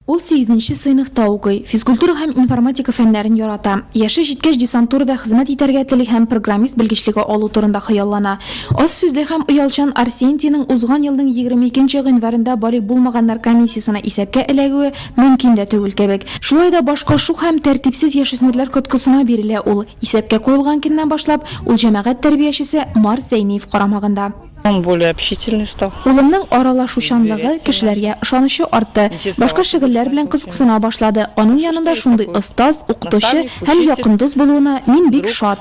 Ул сигезенче сыйныфта укый, физкультура һәм информатика фәннәрен ярата. Яше җиткәч десантурада хезмәт итәргә тели һәм программист белгечлеге алу турында хыяллана. Аз сүзле һәм оялчан Арсентийның узган елның егерме икенче гыйнварында балигъ булмаганнар комиссиясенә исәпкә эләгүе мөмкин дә түгел кебек. Шулай да башка шук һәм тәртипсез яшүсмерләр коткысына бирелә ул. Исәпкә куелган көннән башлап, ул җәмәгать тәрбиячесе Марс Зәйниев карамагында. Он более общительный стал. Улымның аралашучанлыгы, кешеләргә ышанычы артты. Башка шөгыльләр белән кызыксына башлады. Аның янында шундый остаз, укытучы һәм якын дус булуына мин бик шат.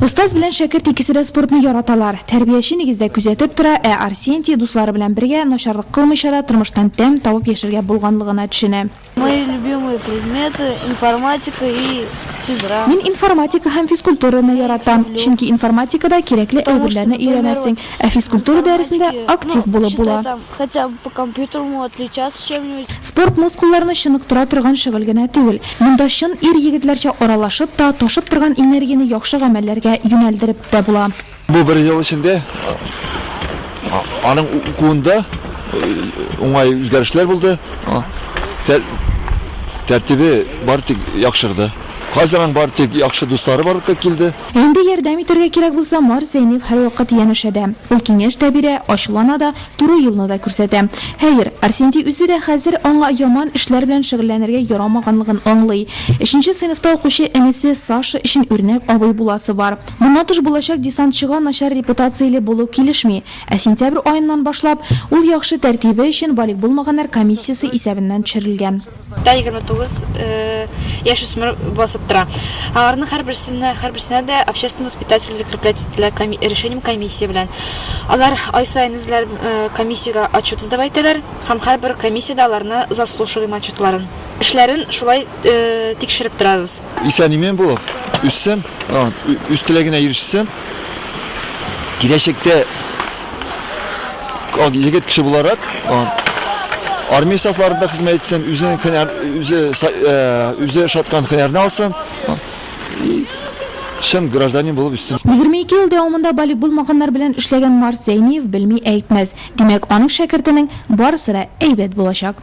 Остаз белән шәкерт икесе дә спортны яраталар. Тәрбияче нигездә күзәтеп тора, ә Арсентий, дуслары белән бергә, начарлык кылмыйча да тормыштан тәм табып яшәргә булганлыгына төшенә. Мои любимые предметы, информатика и физра. Мин информатика һәм физкультураны яратам, чөнки информатикада кирәкле әйберләрне өйрәнәсең, ә физкультура дәресендә актив булып була. Спорт мускулларны чыныктыра торган шөгыль генә түгел. Монда чын ир-егетләрчә аралашып та, ташып торган энергияне яхшы гамәлләргә юнәлдереп тә була. Бу бер ел эчендә аның укуында уңай үзгәрешләр булды, тәртибе бары тик яхшырды. Хәзер аның бары тик яхшы дуслары барлык та килде. Инде ярдәм итәргә кирәк булса, Марс Зәйнев һәрвакыт янәшә дә. Ул киңәш тә бирә, ачулана да, туры юлны да күрсәтә. Хәер, Арсентий үзе дә хәзер аңа яман эшләр белән шөгыльләнергә ярамаганлыгын аңлый. Өченче сыйныфта укучы энесе Саша өчен үрнәк абый буласы бар. Моннан тыш булачак десантчыга начар репутацияле булу килешми, ә сентябрь аеннан башлап ул яхшы тәртибе өчен балигъ булмаганнар комиссиясе исәбеннән төшерелгән. Да егерме тугыз яшүсмер басып тора. Аларның һәрберсенә һәрберсенә дә общественный воспитатель закреплять ителә коми решением комиссия белән. Алар ай саен үзләре комиссиягә отчет сдавать итәләр һәм һәрбер комиссиядә аларны заслушиваем отчетларын, эшләрен шулай тикшереп торабыз. Исән-имин булып үссен, үз теләгенә ирешсен. Киләчәктә егет кеше буларак армия сафларында хезмәт итсен, үзенең хөнәр, үзе үзе э, шаткан хөнәрне алсын. И чын гражданин булып үссен. 22 ел дәвамында балигъ булмаганнар белән эшләгән Марс Зәйниев белми әйтмәс. Димәк, аның шәкертенең барысы да әйбәт булачак.